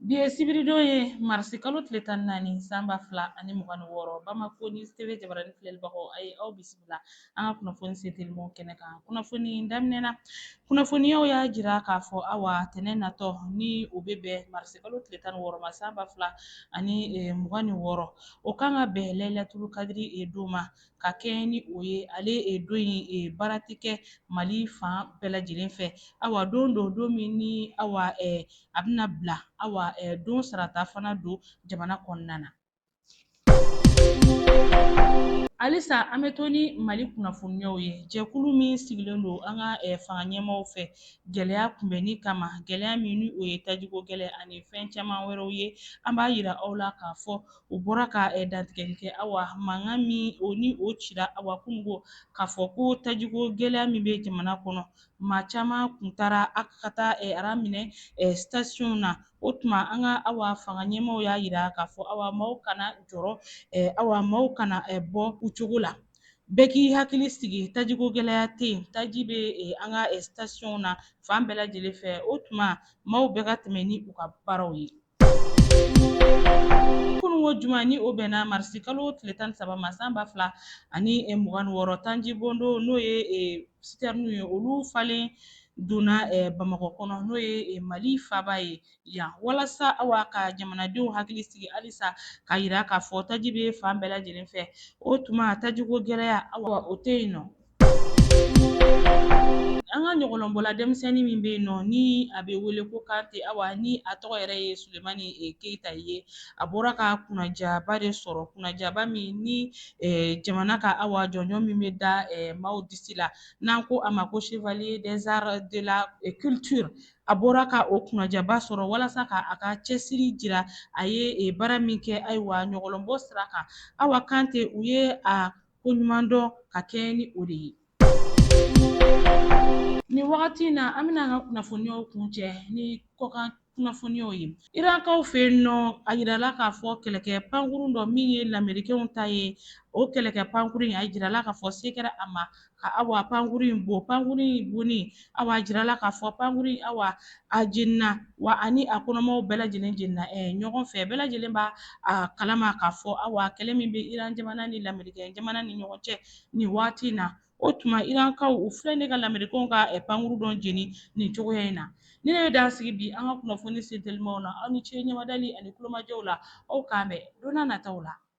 Bi ye sibiridon ye marisi kalo tile tan naani san ba fila ani mugan wɔɔrɔ bamakɔ ni TV jabaranin filɛlibagaw a ye aw bisimila an ka kunnafoni sentelimaw kɛnɛ kan kunnafoni daminɛ na kunnafoniyaw y'a jira k'a fɔ awa tɛnɛn natɔ ni o bɛ bɛn marisi kalo tile tan wɔɔrɔ ma san ba fila ani mugan ni wɔɔrɔ o kan ka bɛn layilatul kadiri don ma ka kɛɲɛ ni o ye ale e, don in e, baara tɛ kɛ mali fan bɛɛ lajɛlen fɛ awa don don don min ni awa e, a bɛna bila awa e, don sarata fana don jamana kɔnɔna na halisa an bɛ to ni mali kunnafoniyaw ye jɛkulu min sigilen don an ka eh, fanga ɲɛmaaw fɛ gɛlɛya kunbɛnni kama gɛlɛya min ni o ye tajiko gɛlɛya ani fɛn caman wɛrɛw ye an b'a yira aw la k'a fɔ U bɔra ka ɛ dantigɛli kɛ awa mankan min o ni o cira awa kununko k'a fɔ ko tajiko gɛlɛya min bɛ jamana kɔnɔ maa caman kun taara a ka taa ɛ ara minɛ ɛ sitasiyonw na o tuma an ka awa fanga ɲɛmaaw y'a jira k'a fɔ awa maaw kana jɔrɔ ɛ awa maaw kana ɛ bɔ u cogo la bɛɛ k'i hakili sigi tajiko gɛlɛya tɛ yen taji bɛ an ka ɛ sitasiyonw na fan bɛɛ lajɛlen fɛ o tuma maaw bɛɛ ka tɛmɛ ni u ka baaraw ye ko juma ni o bɛnna marisi kalo tile tan saba ma san ba fila ani eh, mugan wɔɔrɔ taji bondo n'o ye eh, sitɛrini ye olu falen donna eh, bamakɔ kɔnɔ n'o ye mali faba ye yan walasa awa ka jamanadenw hakili sigi halisa k'a yira k'a fɔ taji bɛ fan bɛɛ lajɛlen fɛ o tuma tajiko gɛlɛya awa o tɛ yen nɔ An ka ɲɔgɔlɔnbɔla denmisɛnnin min bɛ yen nɔ ni a bɛ wele ko Kante awa ni a tɔgɔ yɛrɛ ye Sulemani Keyita ye a bɔra ka kunnajaaba de sɔrɔ kunnajaaba min ni jamana ka awa jɔnjɔn min bɛ da maaw disi la n'an ko a ma ko Chevalier des Arts de la Culture a bɔra ka o kunnajaaba sɔrɔ walasa ka a ka cɛsiri jira a ye baara min kɛ ayiwa ɲɔgɔlɔnbɔ sira kan awa Kante u ye a ko ɲuman dɔn ka kɛɲɛ ni o de ye. Nin wagati in na an bɛna an ka kunnafoniyaw kuncɛ ni kɔkan kunnafoniyaw ye. Irankaw fɛ yen nɔ, a jirala k'a fɔ kɛlɛkɛ pankurun dɔ min ye lamerikenw ta ye, o kɛlɛkɛ pankurun in a jirala k'a fɔ se kɛra a ma ka awa pankurun in bon. Pankurun in bonni awa a jirala k'a fɔ pankuru in awa a jenina wa ani a kɔnɔmaw bɛɛ lajɛlen jenina ɲɔgɔn fɛ bɛɛ lajɛlen b'a kalama k'a fɔ awa kɛlɛ min bɛ iran jamana ni lamerikɛ jamana ni ɲɔgɔn cɛ nin waati na o tuma irankaw u filɛ ne ka lamerikɛw ka pankuru dɔ jeni nin cogoya in na nin de bɛ dan sigi bi an ka kunnafoni sentelimaw na aw ni ce ɲɛmadali ani tulomajɔ la aw k'an bɛn don nataw la